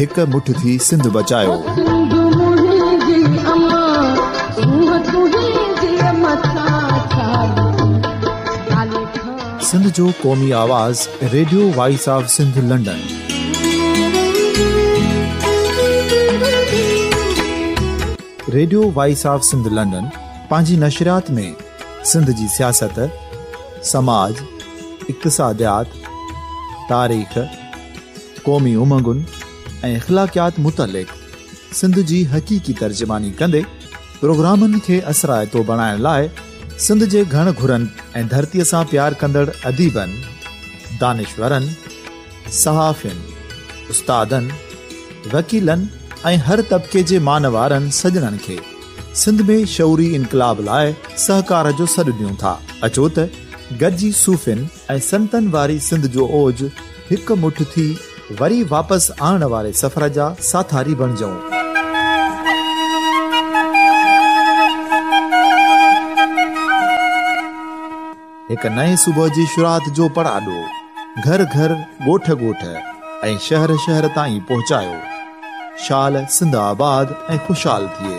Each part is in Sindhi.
هڪ مٺ ٿي سنڌ بچايوسنڌ جو قومي آواز radio voice of Sindh London radio voice of Sindh London پنهنجي نشريات ۾ سنڌ جي سياست سماج اقتصاديات تاريخ قومي امنگن ۽ اخلاقيات متعلق سنڌ جي حقيقي ترجماني ڪندي پروگرامن کي اثرائتو بڻائڻ لاء سنڌ جي گهڻ گهرن ۽ ڌرتي سان پيار ڪندڙ اديبن، دانشورن، صحافين، استادن، وڪيلن ۽ هر طبقي جي مانوارن سڄڻن کي سنڌ ۾ شعوري انقلاب لاء سهڪار جو سڏ ڏيون ٿا. اچو ته گڏجي صوفين، ۽ سنتن واري سنڌ جو اوج هڪ مٺ ٿي وري واپس آڻڻ واري سفر جا ساٿاري بڻجئون. هڪ نئين صبح جي شروعات جو پڙاڏو گهر گهر، ڳوٺ ڳوٺ ۽ شهر شهر تائين پهچايو. شال سنڌ آباد ۽ خوشحال ٿئي.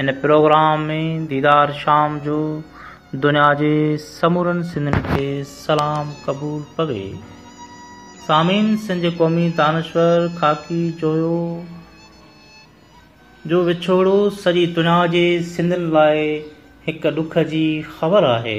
ان پروگرام ۾ ديدار شام جو دنيا جي سمورن سنڌين کي سلام قبول پوي. سامعين سنڌ قومي دانشور خاڪي جويو جو وڇوڙو سڄي دنيا جي سنڌين لاء هڪ ڏک جي خبر آهي.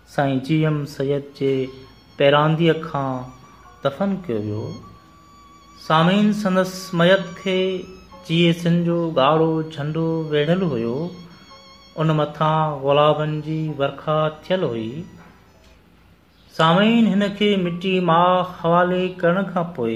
سائين جي ايم سيد جي پيرانديء کان دفن ڪيو ويو. سامعين سندس ميت کي جي اي سين جو ڳاڙهو جهنڊو ويڙهيل هيو، ان مٿان گلابن جي ورکا ٿيل هئي. سامعين هن کي مٽي ماء حوالي ڪرڻ کان پوء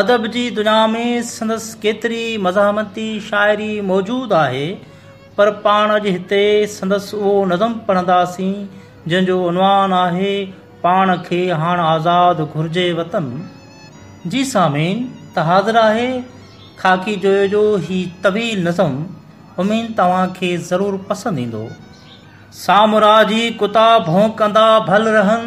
ادب جي دنيا ۾ سندس ڪيتري مزاحمتي شاعري موجود آهي پر پاڻ اڄ هتي سندس اهو نظم پڙهنداسين جنهن جو عنوان آهي پاڻ کي هاڻ آزاد گهرجي وطن جي سامعين ته حاضر آهي خاڪي جويو جو هي طويل نظم امين توهان کي ضرور پسند ايندو سامرا جي ڪتا ڀونڪندا ڀل رهن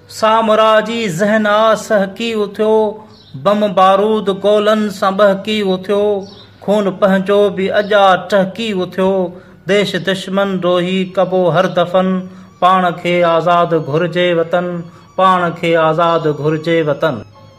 سامراجي ذهن آ سهڪي اٿيو، بم بارود گولن سان ٻهڪي اٿيو، خون پنهنجو به اڄ آ ٽهڪي اٿيو، ديش دشمن روهي ڪبو هر دفن، پاڻ کي آزاد گهرجي وطن، پاڻ کي آزاد گهرجي وطن.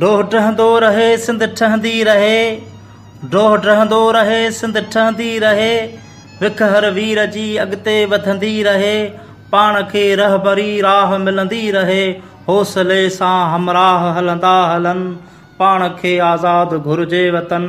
ڊوهه ڊهندو رهي سنڌ ٺهندي رهي ڊوهه ڊهندو رهي سنڌ ٺهندي رهي وک هر وير جي اڳتي وڌندي رهي پاڻ کي رهبري راهه ملندي رهي حوصلي سان همراهه هلندا هلن پاڻ کي آزاد گهرجي وطن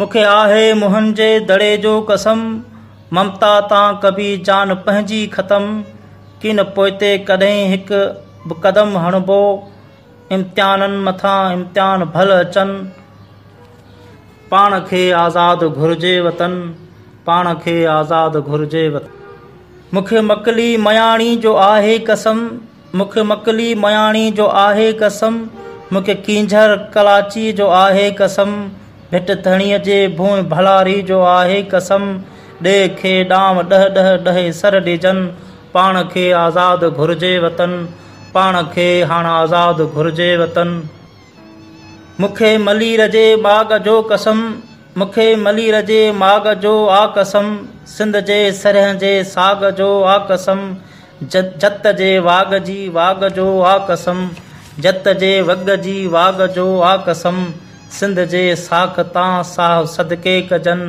مون کي آهي موهن جي دڙي جو قسم ممتا تان ڪبي جان پنهنجي ختم ڪين پوئتي ڪڏهن هڪ به قدم هڻبو امتحانن مٿان امتحان ڀل اچن پاڻ کي آزاد گهرجي وطن پاڻ کي آزاد گهرجي وطن مون کي مڪلي مياڻي جو آهي قسم مون کي مڪلي مياڻي جو آهي قسم، مون کي ڪينجهر ڪلاچيء جو آهي قسم، ڀٽ ڌڻيء جي ڀونء ڀلاري جو آهي قسم، ڏي کي ڏانء ڏهه ڏهه ڏهي سر ڏيجن، پاڻ کي آزاد گهرجي وطن، پاڻ کي هاڻ آزاد گهرجي وطن. مون کي ملير جي ماڳ جو قسم مون کي ملير جي ماڳ جو آ قسم سنڌ جي سرهن جي ساڳ جو آ قسم جت جي واڳ جي واڳ جو آ قسم جت جي وڳ جي واڳ جو آ قسم سنڌ جي ساک تان ساهه صدقي ڪجن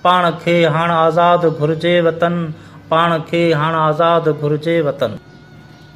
پاڻ کي هاڻ آزاد گهرجي وطن پاڻ کي هاڻ آزاد گهرجي وطن.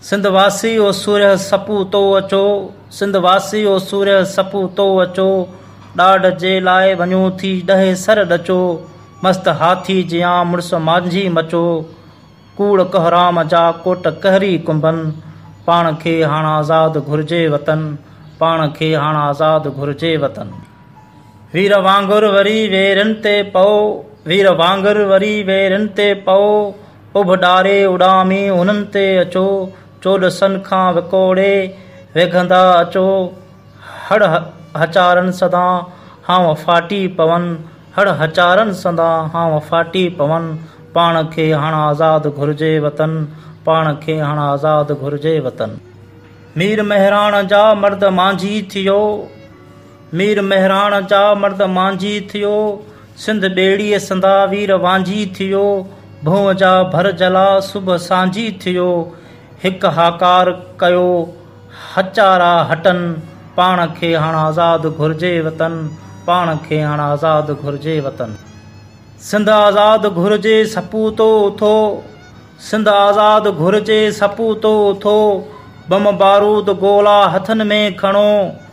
سنڌ واسي او سورهيه سپو تو اچو، سنڌ واسي او سورهيه سپو تو اچو، ڏاڍ جي لاء وڃو ٿي ڏهي سر ڏچو، مست هاٿي جيان مڙس مانجهي مچو، ڪوڙ ڪهرام جا ڪوٽ ڪهري ڪنبن، پاڻ کي هاڻ آزاد گهرجي وطن، پاڻ کي هاڻ آزاد گهرجي وطن. وير وانگر وري ويرين تي پئو، وير وانگر وري ويرين تي پئو. اڀ ڏاري اڏامي انهن تي اچو، چولسن کان وڪوڙي ويگهندا اچو، هڙ هچارن سدان هانء ڦاٽي پون، هڙ هچارن سدان هانء ڦاٽي پون، پاڻ کي هاڻ آزاد گهرجي وطن، پاڻ کي هاڻ آزاد گهرجي وطن. مير مهراڻ جا مرد مانجهي ٿيو. مير مهراڻ جا مرد مانجهي ٿيو، سنڌ ٻيڙيء سندا وير وانجهي ٿيو، ڀونء جا ڀر جلا صبح سانجهي ٿيو، هڪ هاڪار ڪيو هچارا هٽن، پاڻ کي هاڻ آزاد گهرجي وطن، پاڻ کي هاڻ آزاد گهرجي وطن. سنڌ آزاد گهرجي سپوتو اٿو، سنڌ آزاد گهرجي سپوتو اٿو، بم بارود گولا هٿن ۾ کڻو،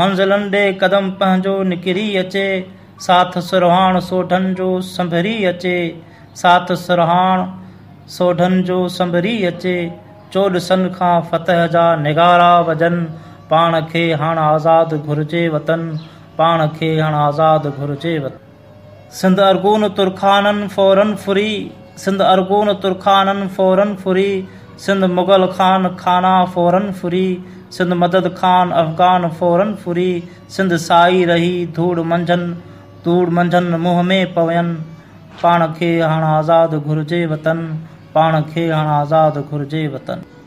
منزلن ڏي قدم پنهنجو نڪري اچي، ساٿ سرهاڻ سوڍن جو سنڀري اچي، ساٿ سرهاڻ سوڍن جو سنڀري اچي، چوڏسن کان فتح جا نغارا وڄن، پاڻ کي هاڻ آزاد گهرجي وطن، پاڻ کي هاڻ آزاد گهرجي وطن. سنڌ ارغون ترخانن فورن ڦري، سنڌ ارغون ترخانن فورن ڦري، سنڌ مغل خان خانا فورن ڦري، سنڌ مدد خان افغان فورن ڦري، سنڌ سائي رهي ڌوڙ منجهن، ڌوڙ منجهن منهن ۾ پوين، پاڻ کي هاڻ آزاد گهرجي وطن، پاڻ کي هاڻ آزاد گهرجي وطن.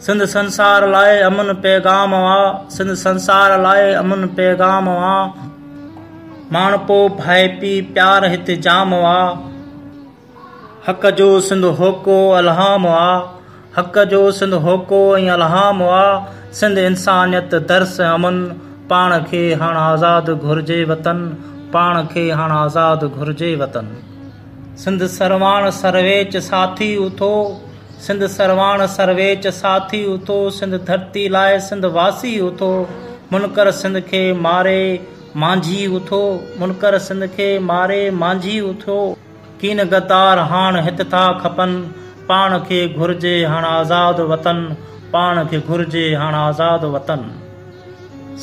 سنڌ سنسار لاء امن پيغام آ سنڌ سنسار لاء امن پيغام آ ماڻهپو ڀائپي پيار هت جام آ حق جو سنڌ هوڪو الهام آ حق جو سنڌ هوڪو ۽ الهام آ سنڌ انسانيت درس امن پاڻ کي هاڻ آزاد گهرجي وطن پاڻ کي هاڻ آزاد گهرجي وطن سنڌ سرواڻ سرويچ ساٿي اٿو سنڌ سرواڻ سرويچ ساٿي اٿو سنڌ ڌرتي لاء سنڌ واسي اٿو منڪر سنڌ کي ماري مانجهي اٿو منڪر سنڌ کي ماري مانجهي اٿو ڪين غدار هاڻ هت ٿا کپن پاڻ کي گهرجي هاڻ آزاد وطن پاڻ کي گهرجي هاڻ آزاد وطن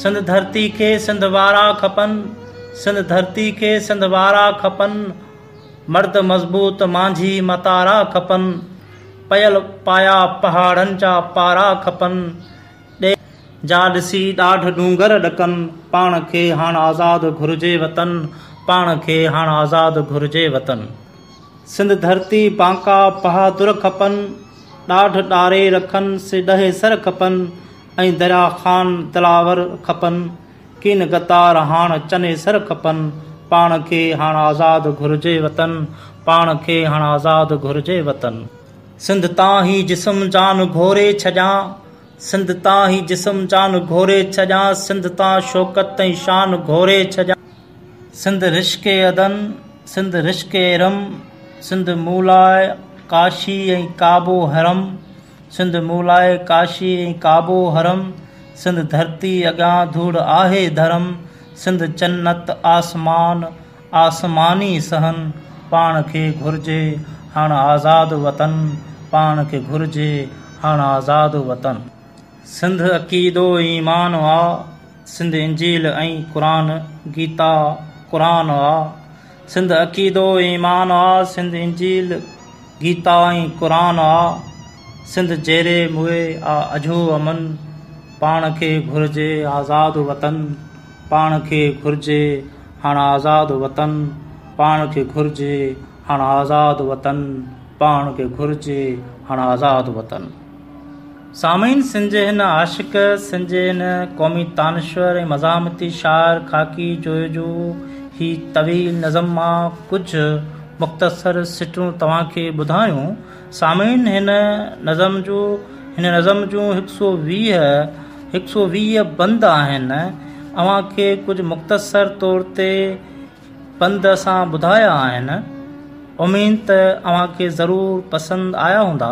سنڌ ڌرتي کي سنڌ وارا کپن سنڌ ڌرتي کي سنڌ وارا کپن. مرد مضبوط مانجهي متارا کپن، پيل پايا پهاڙن جا پارا کپن، ڏي. جا ڏسي ڏاڍ ڏونگر ڏڪن، پاڻ کي هاڻ آزاد گهرجي وطن، پاڻ کي هاڻ آزاد گهرجي وطن. سنڌ ڌرتي بانڪا بهادر کپن، ڏاڍ ڏاري رکن سي ڏهي سر کپن، ۽ دريا خان دلاور کپن. ڪين غدار هاڻ چني سر کپن. پاڻ کي هاڻ آزاد گهرجي وطن. پاڻ کي هاڻ آزاد گهرجي وطن. سنڌ تان هي جسم جان گهوري ڇڏيان. سنڌ تان هي جسم جان گهوري ڇڏيان. سنڌ تان شوڪت ۽ شان گهوري ڇڏيان. سنڌ رشڪ عدن، سنڌ رشڪ ارم. سنڌ مون لاء ڪاشي ۽ ڪعبو حرم. سنڌ مون لاء ڪاشي ۽ ڪعبو حرم سنڌ ڌرتي اڳيان ڌوڙ آهي ڌرم سنڌ چنت آسمان آسماني صحن پاڻ کي گهرجي هاڻ آزاد وطن پاڻ کي گهرجي هاڻ آزاد وطن. سنڌ عقيدو ايمان آ سنڌ انجيل ۽ قرآن گيتا قرآن آ. سنڌ عقيدو ۽ ايمان آ، سنڌ انجيل، گيتا ۽ قرآن آ، سنڌ جيري موئي آ اجهو امن، پاڻ کي گهرجي آزاد وطن، پاڻ کي گهرجي هاڻ آزاد وطن، پاڻ کي گهرجي هاڻ آزاد وطن، پاڻ کي گهرجي هاڻ آزاد وطن. سامعين سن جي هن عاشق، سن جي هن قومي تانشور ۽ مزاحمتي شاعر خاڪي جويجو هي طويل نظم مان ڪجهه مختصر سٽون توهان کي ٻڌايون. سامعين هن نظم جو هن نظم جون هڪ سئو ويهه هڪ سئو ويهه بند آهن اوهان کي ڪجهه مختصر طور تي بند اسان ٻڌايا آهن اميد ته اوهان کي ضرور پسند آيا هوندا.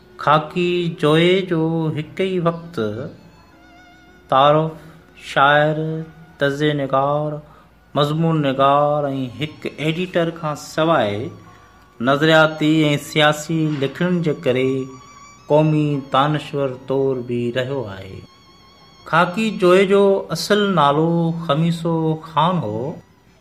خاڪي جويي جو هڪ ئي وقت تعارف شاعر، تجزئي نگار، مضمون نگار ۽ هڪ ايڊيٽر کان سواء نظرياتي ۽ سياسي لکڻين جي ڪري قومي دانشور طور به رهيو آهي. خاڪي جويي جو اصل نالو خميسو خان هو.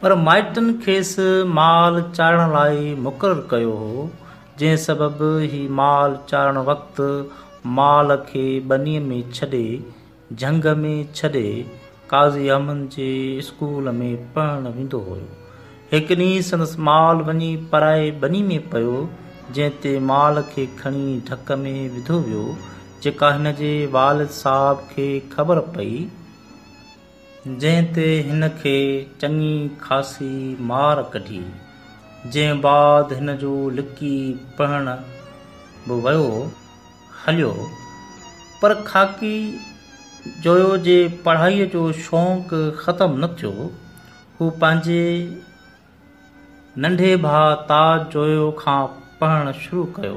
پر مائٽن کيس مال چارڻ لاء مقرر ڪيو هو، جنهن سبب هي مال چارڻ وقت مال کي ٻنيء ۾ ڇڏي، جهنگ ۾ ڇڏي، قاضي احمد جي اسڪول ۾ پڙهڻ ويندو هيو. هڪ ڏينهن سندس مال وڃي پرائي ٻني ۾ پيو، جنهن تي مال کي کڻي ڍڪ ۾ وڌو ويو، جيڪا هن جي والد صاحب کي خبر پئي. جنهن تي هن کي چڱي خاصي مار ڪڍي، جنهن بعد هن جو لڪي پڙهڻ به ويو هليو، پر خاڪي جويو جي پڙهائي جو شونق ختم نه ٿيو، هو پنهنجي ننڍي ڀاء تاج جويو کان پڙهڻ شروع ڪيو.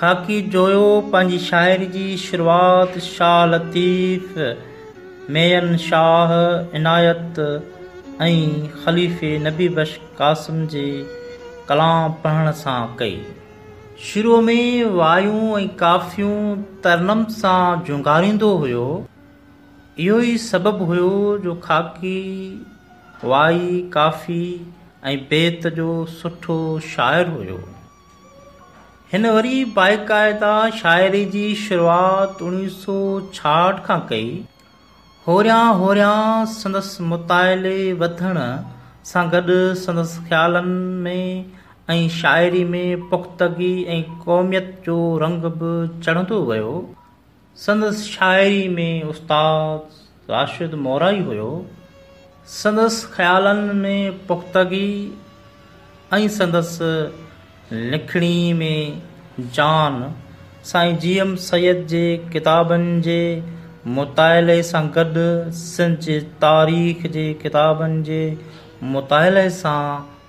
خاڪي جويو پنهنجي شاعري جي شروعات شاهه لطيف، ميين شاهه عنايت ۽ خليفي نبي بخش قاسم جي ڪلام پڙهڻ سان ڪئي. شروع ۾ وايون ۽ ڪافيون ترنم سان جهونگاريندو هيو. اهو ئي سبب هيو جو خاڪي وائي، ڪافي ۽ بيت جو سٺو شاعر هيو. هن وري باقاعده شاعري جي شروعات اوڻيهه سؤ ڇاهٺ کان ڪئي. هوريان هوريان سندس مطالعي وڌڻ سان گڏ سندس خيالن ۾ ۽ شاعري ۾ پختگي ۽ قوميت جو رنگ به چڙهندو ويو. سندس شاعري ۾ استاد راشد مورائي هيو. سندس خيالن ۾ پختگي ۽ سندس لکڻي ۾ جان، سائين جي ايم سيد جي ڪتابن جي مطالعي سان گڏ سنڌ جي تاريخ جي ڪتابن جي مطالعي سان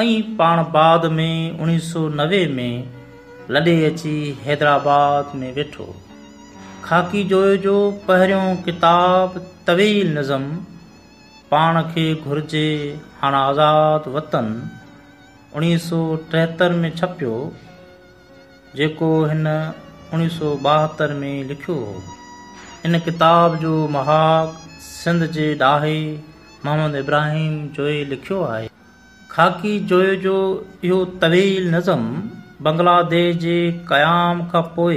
ائين پاڻ بعد ۾ اوڻيهه سؤ نوي ۾ لڏي اچي حيدرآباد ۾ ويٺو. خاڪي جويو جو پهريون ڪتاب طويل نظم پاڻ کي گهرجي هاڻ آزاد وطن اوڻيهه سؤ ٽيهتر ۾ ڇپيو. جيڪو هن اوڻيهه سؤ ٻاهتر ۾ لکيو هو. ان ڪتاب جو مهاڳ سنڌ جي ڏاهي محمد ابراهيم جويي لکيو آهي. خاڪي جويي جو اهو طويل نظم بنگلاديش جي قيام کان پوء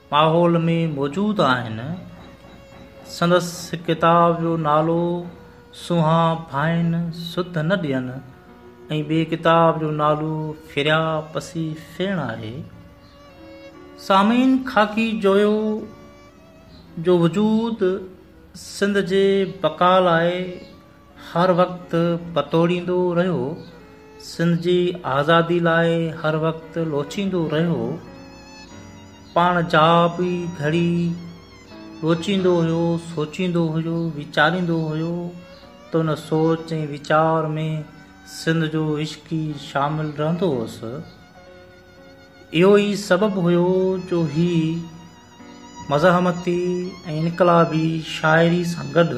ماحول ۾ موجود آهن. سندس ڪتاب جو نالو سونهان ڀائين سڌ نه ڏين ۽ ٻئي ڪتاب جو نالو ڦريا پسي ڦيڻ آهي. سامعين خاڪي جويو جو وجود سنڌ جي بقا لاء هر وقت پتوڙيندو رهيو، سنڌ جي آزادي لاء هر وقت لوچيندو رهيو، پاڻ جا به گهڙي لوچيندو هيو، سوچيندو هيو، ويچاريندو هيو ته ان سوچ ۽ ويچار ۾ سنڌ جو عشق ئي شامل رهندو هوس. اهو ئي سبب هيو جو هي مزاحمتي ۽ انقلابي شاعري سان گڏ،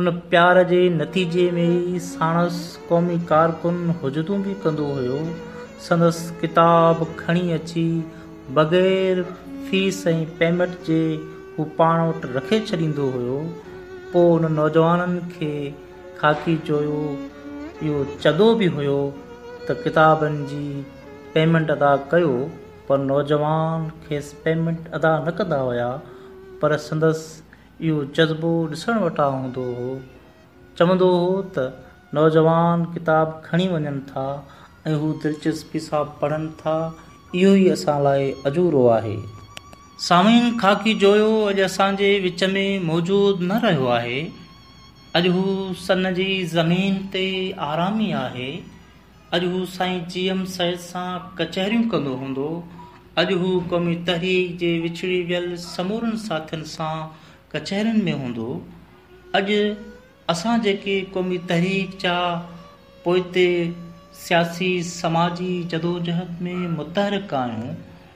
ان پيار جي نتيجي ۾ ئي ساڻس قومي ڪارڪن حجتون به ڪندو هيو. سندس ڪتاب کڻي اچي بغير فيس ۽ پيمنٽ جي هو پاڻ وٽ رکي ڇڏيندو هيو. پوء ان نوجوانن کي خاڪي چويو. اهو چدو به هيو ته ڪتابن جي پيمنٽ ادا ڪيو پر نوجوان کيس پيمنٽ ادا نه ڪندا هيا پر سندس اهو جذبو ڏسڻ وٽان هوندو هو. چوندو هو ته نوجوان ڪتاب کڻي وڃن ٿا ۽ هو دلچسپي سان پڙهن ٿا، اهو ئي اسان لاء اجورو آهي. سامعين خاڪي جويو اڄ اسان جي وچ ۾ موجود نه رهيو آهي. اڄ هو سن جي زمين تي آرامي آهي. اڄ هو سائين جي ايم سيد سان ڪچهريون ڪندو هوندو، اڄ هو قومي تحريڪ جي وڇڙي ويل سمورن ساٿين سان ڪچهرين ۾ هوندو، اڄ اسان جيڪي قومي تحريڪ جا پوئتي سياسي سماجي جدوجهد ۾ متحرڪ آهيون،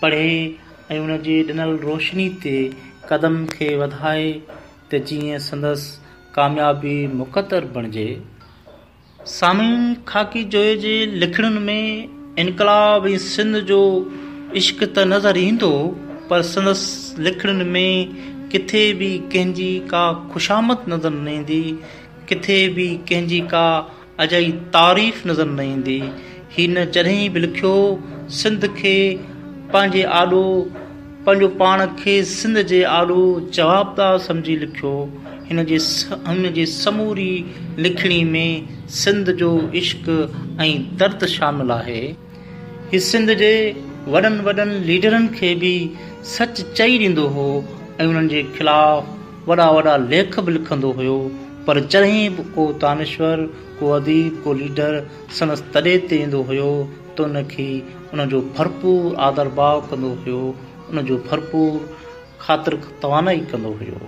پڙهي ۽ ان جي ڏنل روشني تي قدم کي وڌائي ته جيئن سندس ڪاميابي مقدر بڻجي. سامعين خاڪي جويي جي لکڻين ۾ انقلاب ۽ سنڌ جو عشق ته نظر ايندو پر سندس لکڻين ۾ ڪٿي به ڪنهن جي ڪا خوشامد نظر نه ايندي ڪٿي به ڪنهن جي ڪا اجائي تعريف نظر نه ايندي. هي نه جڏهن به لکيو سنڌ کي پنهنجي آڏو پنهنجو پاڻ کي سنڌ جي آڏو جوابدار سمجهي لکيو. هن جي سموري لکڻي ۾ سنڌ جو عشق ۽ درد شامل آهي. هي سنڌ جي وڏن وڏن ليڊرن کي به سچ چئي ڏيندو هو ۽ انهن جي خلاف وڏا وڏا ليک به لکندو هيو پر جڏهن به ڪو دانشور، ڪو اديب، ڪو ليڊر سندس تڏي تي ايندو هيو ته ان کي ان جو ڀرپور آڌرڀاء ڪندو هيو، ان جو ڀرپور خاطر توانائي ڪندو هيو.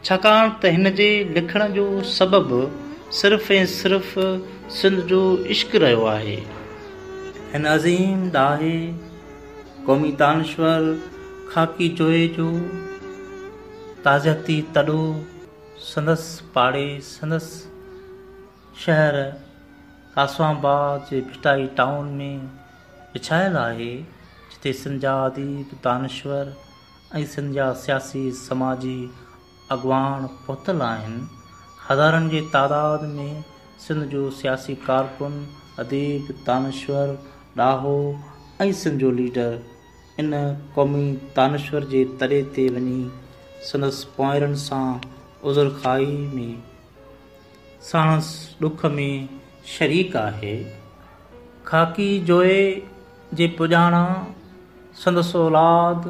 ڇاڪاڻ ته هن جي لکڻ جو سبب صرف ۽ صرف سنڌ جو عشق رهيو آهي. هن عظيم ڏاهي، قومي دانشور، خاڪي جوئي جو تعزيتي تڏو سندس پاڙي، سندس شهر ڪاسم آباد جي ڀٽائي ٽائون ۾ وڇايل آهي، جتي سنڌ جا اديب، دانشور، ۽ سنڌ جا سياسي سماجي اڳواڻ پهتل آهن هزارن جي تعداد ۾ سنڌ جو سياسي ڪارڪن اديب دانشور ڏاهو ۽ سنڌ جو ليڊر ان قومي دانشور جي تڏي تي وڃي سندس پونئيرن سان عذر خواهي ۾ ساڻس ڏک ۾ شريڪ آهي خاڪي جوئي جي پڄاڻان سندس اولاد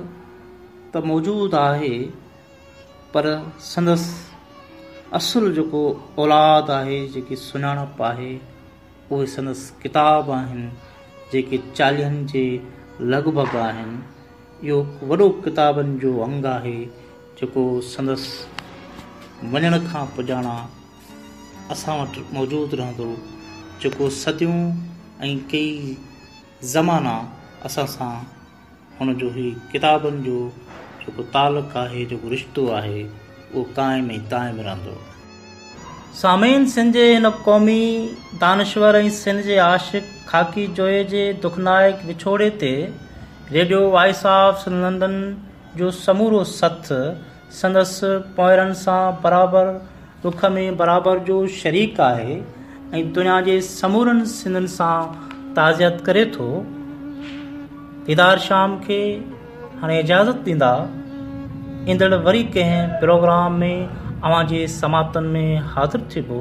ته موجود آهي پر سندس اصل جيڪو اولاد آهي جيڪي سڃاڻپ آهي اهي سندس ڪتاب آهن جيڪي چاليهن جي لڳ ڀڳ آهن اهو وڏو ڪتابن جو انگ آهي جيڪو سندس وڃڻ کان پڄاڻان اسان وٽ موجود رهندو، جيڪو صديون ۽ ڪيئي زمانا اسان سان هن جو هي ڪتابن جو جيڪو تعلق آهي، جيڪو رشتو آهي، اهو قائم ۽ دائم رهندو. سامعين! سنڌ جي هن قومي دانشور ۽ سنڌ جي عاشق خاڪي جويي جي دکنائڪ وڇوڙي تي radio voice of Sindh London جو سمورو سٿ سندس پوئرن سان برابر ڏک ۾ برابر جو شريڪ آهي ۽ دنيا جي سمورن سنڌين سان تعزيت ڪري ٿو. ديدار شام کي هاڻي اجازت ڏيندا، ايندڙ وري ڪنهن پروگرام ۾ اوهان جي سماعتن ۾ حاضر ٿبو.